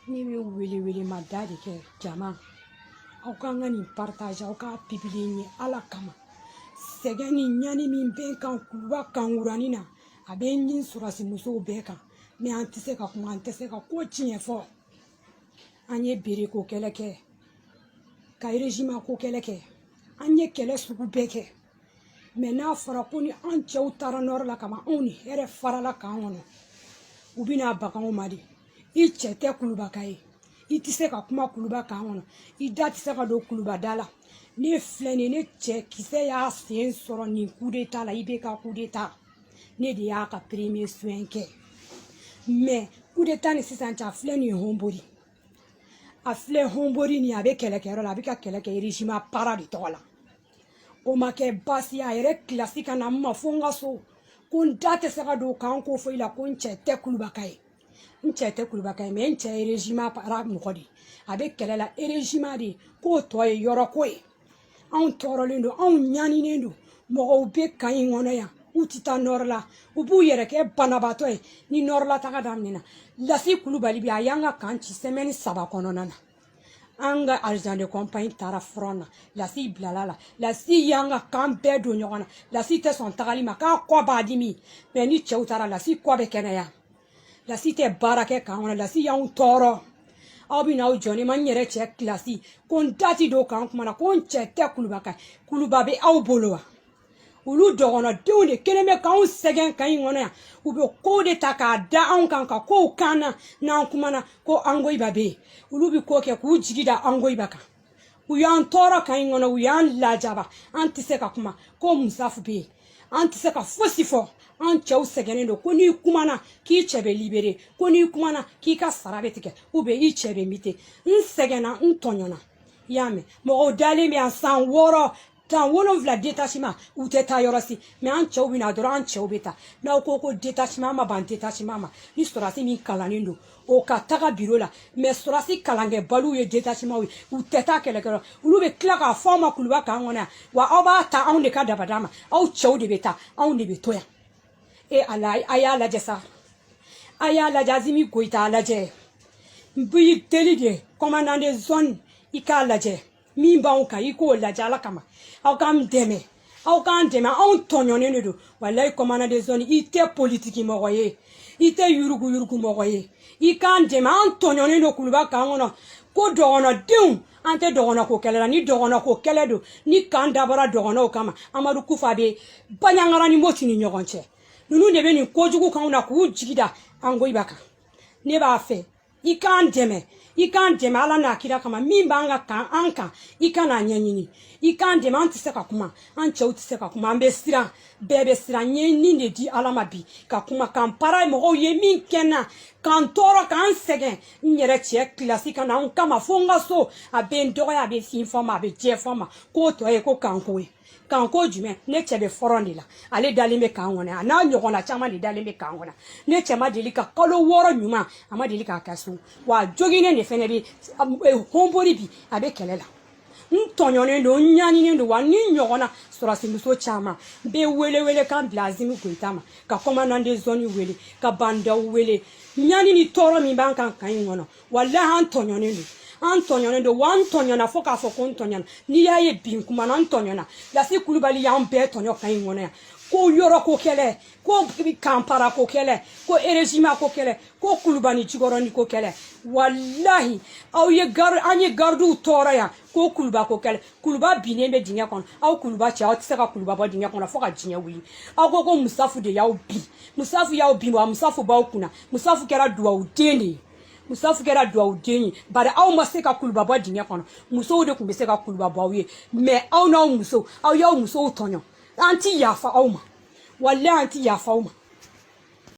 ne bɛ wele wele ma da de kɛ jama aw k'an ka nin paritaze aw k'a pibiliye ala kama sɛgɛn ni ɲani min bɛ n kan kuluba kan kuranin na a bɛ n ni sɔrɔdasi musow bɛɛ kan mɛ an tɛ se ka kuma an tɛ se ka ko tiɲɛ fɔ an ye bere ko kɛlɛ kɛ ka erezima ko kɛlɛ kɛ an ye kɛlɛ sugu bɛɛ kɛ mɛ n'a fɔra ko ni an cɛw taara nɔrɔ la kaban anw ni hɛrɛ farala kan kɔnɔ u bɛna baga anw ma de i cɛ tɛ kulubaka ye i tɛ se ka kuma kuluba kan kɔnɔ i da tɛ se ka don kulubada la ne filɛ nin ne cɛ kisɛ y'a sen sɔrɔ nin kudeta la ibeka kudeta ne de y'a ka premier soin kɛ mɛ kudeta ni sisan cɛ a filɛ nin ye honbori a filɛ honbori nin a bɛ kɛlɛkɛyɔrɔ la a bɛ ka kɛlɛ kɛ erezima para de tɔgɔ la o ma kɛ baasi ye a yɛrɛ kilasi ka na n ma fo n ka so ko n da tɛ se ka don kan ko foyi la ko n cɛ tɛ kulubaka ye n cɛ tɛ kulubaka ye mɛ n cɛ ye erezima para mɔgɔ de ye a bɛ kɛlɛ la erezima de k'o tɔ ye yɔrɔ ko ye anw tɔɔrɔlen don anw ɲaninen don mɔgɔw bɛ kan in kɔnɔ yan u tɛ taa nɔrɔ la u b'u yɛrɛ kɛ banabaatɔ ye ni nɔrɔ la taga daminɛna lasi kulubali bɛ a y'an ka kan ci sɛmɛni saba kɔnɔna na an ka azidan de kɔnpani taara furɔn na lasi bilala la lasi y'an ka kan bɛɛ don ɲɔgɔn na lasi tɛ sɔn tagali ma k'a kɔ b'a dimi mɛ ni cɛw taara lasi kɔ bɛ kɛnɛya lasi tɛ baara kɛ kan kɔnɔ lasi y'anw tɔɔrɔ aw bɛ n'aw jɔ ne ma n yɛrɛ cɛ kilasi ko n da tɛ don kan kuma na ko n cɛ tɛ kulubaka kuluba bɛ aw bolo wa olu dɔgɔnɔdenw de kelen bɛ k'anw sɛgɛn kan in kɔnɔ yan u bɛ kow de ta k'a da anw kan ka kow k'an na n'an kumana ko angoyiba bɛ yen olu bɛ ko kɛ k'u jigi da angoyiba kan u y'an tɔɔrɔ kan in kɔnɔ u y'an lajaba an tɛ se ka kuma ko musafu bɛ yen an tɛ se ka fosi fɔ an cɛw sɛgɛnnen don ko n'i kumana k'i cɛ bɛ libere ko n'i kumana k'i ka sara bɛ tigɛ ou bien i cɛ bɛ mite n sɛgɛnna n tɔɲɔna i y'a mɛn mɔgɔw dalen bɛ yan san wɔɔrɔ san wolonwula detasima u tɛ taa yɔrɔ si mɛ an cɛw bɛ na dɔrɔn an cɛw bɛ taa n'aw ko ko detasima ma ban detasima ma ni sɔrɔdasi min kalannen don o ka taga biro la mɛ sɔrɔdasi kalankɛbaliw ye detasimaw ye u tɛ taa kɛlɛkɛyɔrɔ olu bɛ tila k'a fɔ aw ma kuluba kan kɔnɔ yan wa aw b'a ta anw de ka dabada ma aw cɛw de bɛ taa anw de bɛ to yan e ala a y'a lajɛ sa a y'a lajɛ asimi goyita a lajɛ n b'i deli de kɔmandan de zɔni i k'a lajɛ min b'anw kan i k'o lajɛ ala kama aw k'an dɛmɛ aw k'an dɛmɛ anw tɔɲɔnen de don walayi kɔmandan de zɔni i tɛ politiki mɔgɔ ye i tɛ yurugu yurugu mɔgɔ ye i k'an dɛmɛ an tɔɲɔnen don kuluba kan kɔnɔ ko dɔgɔnɔdenw an tɛ dɔgɔnɔko kɛlɛ la ni dɔgɔnɔko kɛlɛ don ni kan dabɔra dɔgɔnɔw kama amadu kufa bɛ baɲangara ni moti ni ɲɔgɔn cɛ ninnu de bɛ nin kojugu k'anw na k'u jigi da angoyiba kan ne b'a fɛ i k'an dɛmɛ i k'an dɛmɛ ala n'a kira kama min b'an ka kan an kan i ka n'a ɲɛɲini i k'an dɛmɛ an tɛ se ka kuma an cɛw tɛ se ka kuma an bɛ siran bɛɛ bɛ siran n ye n ni de di ala ma bi ka kuma kanpara mɔgɔw ye min kɛ n na k'an tɔɔrɔ k'an sɛgɛn n yɛrɛ cɛ kilasi ka na n kama fo n ka so a bɛ n dɔgɔya a bɛ fin fɔ n ma a bɛ jɛ fɔ n ma k'o tɔ ye ko kanko ye kanko jumɛn ne cɛ bɛ fɔrɔn de la ale dalen bɛ kan kɔnɔ a n'a ɲɔgɔnna caman de dalen bɛ kan kɔnɔ ne cɛ ma deli ka kalo wɔɔrɔ ɲuman a ma deli k'a kɛ so wa joginnen de fɛnɛ bɛ honbori bi a bɛ kɛlɛ la n tɔɲɔnen don n ɲaninen don wa ni ɲɔgɔnna sɔrɔsimuso caman n bɛ wele welekan bila asimi goyita ma ka kɔmandan de zɔni wele ka ba ndaw wele ɲani ni tɔɔrɔ min b'an kan kan in kɔnɔ walahi an tɔɲɔnen don an tɔɲɔnen don wa an tɔɲɔna fo k'a fɔ ko n tɔɲɔna n'i y'a ye bi n kumana n tɔɲɔna lasi kulubali y'an bɛɛ tɔɲɔ kan in kɔnɔ yan ko yɔrɔ ko kɛlɛ ko kanpara ko kɛlɛ ko erezima ko kɛlɛ ko kuluba ni jikɔrɔni ko kɛlɛ walahi aw ye gar an ye garidiw tɔɔrɔ yan ko kuluba ko kɛlɛ kuluba binnen bɛ dingɛ kɔnɔ aw kuluba cɛ aw tɛ se ka kuluba bɔ dingɛ kɔnɔ fo ka diɲɛ wuli aw ko ko musafu de y'aw bin musafu y'aw bin wa musafu b'aw kunna musafu kɛra duwawuden de ye musafu kɛra duwawuden ye bari aw ma se ka kuluba bɔ dingɛ kɔnɔ musow de tun bɛ se ka kuluba bɔ aw y'a mɛ aw n'aw musow aw y'aw musow tɔɲɔ an ti yafa aw ma walayi an ti yafa aw ma